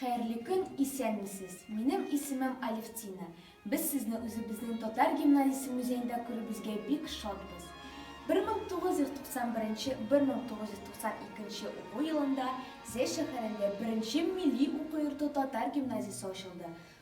Хәерле көн, исәнмесез. Минем исемем Алевтина. Без сезне үзебезнең татар гимназиясе музеенда күрүебезгә бик шатбыз. 1991-1992 уку елында Зәй шәһәрендә беренче милли уку йорты татар гимназиясе ачылды.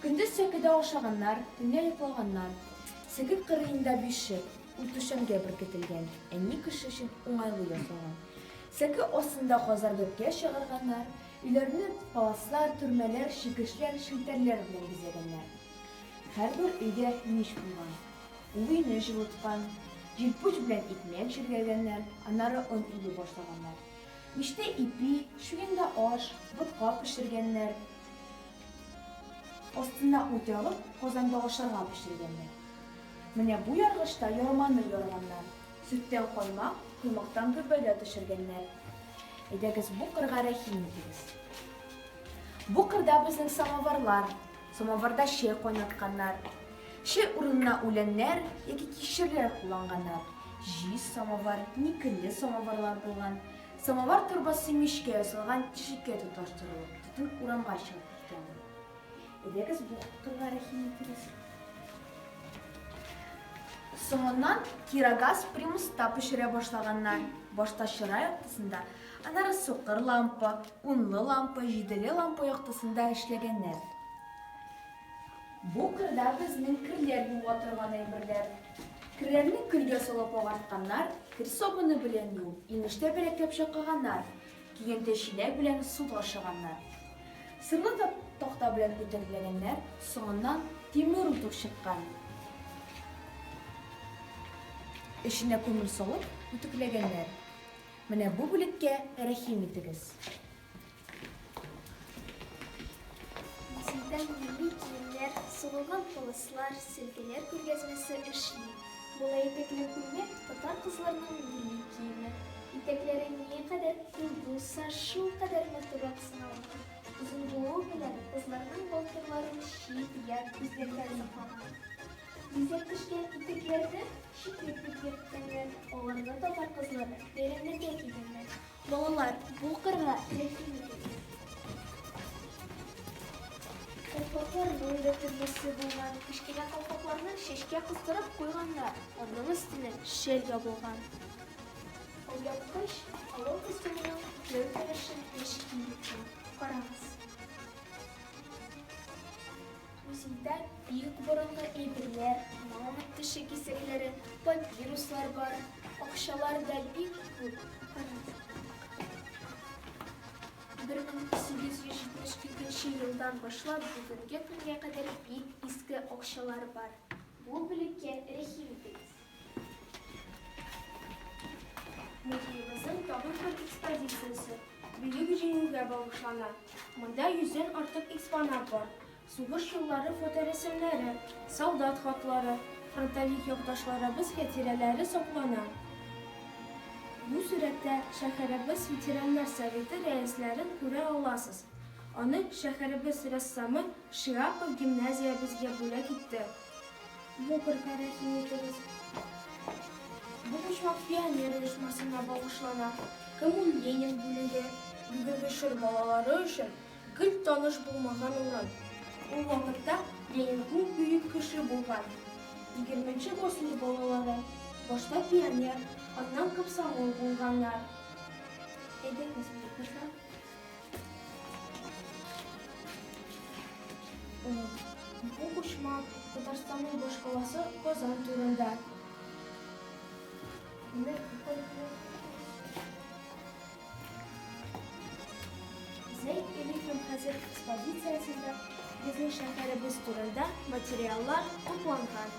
Көндез сәкедә ашаганнар, төнлә йоклаганнар. Сәке кырыенда биш шыр, ут түшәмгә беркетелгән, әни кеше өчен уңайлы ясалган. Сәке астында казар бәбкә чыгарганнар, өйләрне паласлар, төрмәләр, чикешләр, челтәрләр белән бизәгәннәр. Һәрбер өйдә мич булган. Ул өйне җылыткан. Җилпуч белән икмәк җиргәгәннәр, аннары он өйли башлаганнар. Мичтә ипи, чуенда аш, ботка пешергәннәр. Астына ут ягып, казанда ашарга пешергәннәр. Менә бу яргычта ярманы ярганнар, сөттән каймак, коймактан гөббәдә төшергәннәр. Әйдәгез, бу кырга рәхим итегез. Бу кырда безнең самоварлар, самоварда чәй кайнатканнар. Чәй урынына үләннәр яки кишерләр кулланганнар. Җиз самовар, никельле самоварлар булган. Самовар торбасы мичкә ясалган тишеккә тоташтырылып. Түр урамга чыгып киткән. Әйдәгез бу турыда рәхим итегез. Соңыннан кирогаз примуста пешерә башлаганнар. Башта чыра яктысында, аннары сукыр лампа, унлы лампа, җиделе лампа яктысында эшләгәннәр. Бу кырда безнең керләр юа торган әйберләр. Керләрне көлгә салып агартканнар, кер сабыны белән юу, имеш тәбәрәкләп чакыганнар. Киенте чиләк белән су ташыганнар. Сырлы такта белән үтәкләгәннәр, соңыннан тимер утык чыккан. Эченә күмер салып үтекләгәннәр. Менә бу бүлеккә рәхим итегез. Музейда милли киемнәр, сугылган пылыслар, сөлгеләр күргәзмәсе эшли. Мулла итәкле күлмәк, татар кызларының милли киеме. Итәкләре ни кадәр күп булса, шул кадәр матуррак санала. Озын булуы белән кызларның балтырларын чит ят күзләргә соклана. Бизәк төшкән итәкләрне читлек дип йөрткәннәр, аларны татар кызлары бәйрәмнәргә кигәннәр. Балалар, бу кырга рәхим итегез. Колпакларның да төрлесе булган. Кечкенә колпакларны шешкә кыстырып куйганнар. Аның өстенә шел ябылган. Алъяпкыч алау костюмының җәү керешен ничек киметкән. Карагыз. Музейда бик борынгы әйберләр, мамонт теше кисәкләре, папируслар бар. Акчалар да бик күп. 1872 елдан башлап бүгенге көнгә кадәр бик иске акчалар бар. Бу бүлеккә Рәхим итегез. Музеебызның тагын бер экспозициясе Бөек Җиңүгә багышлана. Монда йөздән артык экспонат бар. Сугыш еллары фоторәсемнәре, солдат хатлары, фронтовик якташларыбыз хәтирәләре саклана. Бу сурәттә шәһәребез ветераннар советы рәисләрен күрә аласыз. Аны шәһәребез рәссамы Шиапов гимназиябезгә бүләк итте. Бу бер тарихи итегез. Бу почмак пионер оешмасына багышлана. Коммун Ленин бүлеге, бүгенге чор балалары өчен гел таныш булмаган урын. Ул вакытта Ленин күп бөек кеше булган. Егерменче гасыр балалары башта пионер, аннан комсомол булганнар. Әйдәгез, укучылар. Бу почмак Татарстанның башкаласы Казан турында. Зәйт Эликем хәзер экспозициясендә безнең шәһәребез турында материаллар тупланган.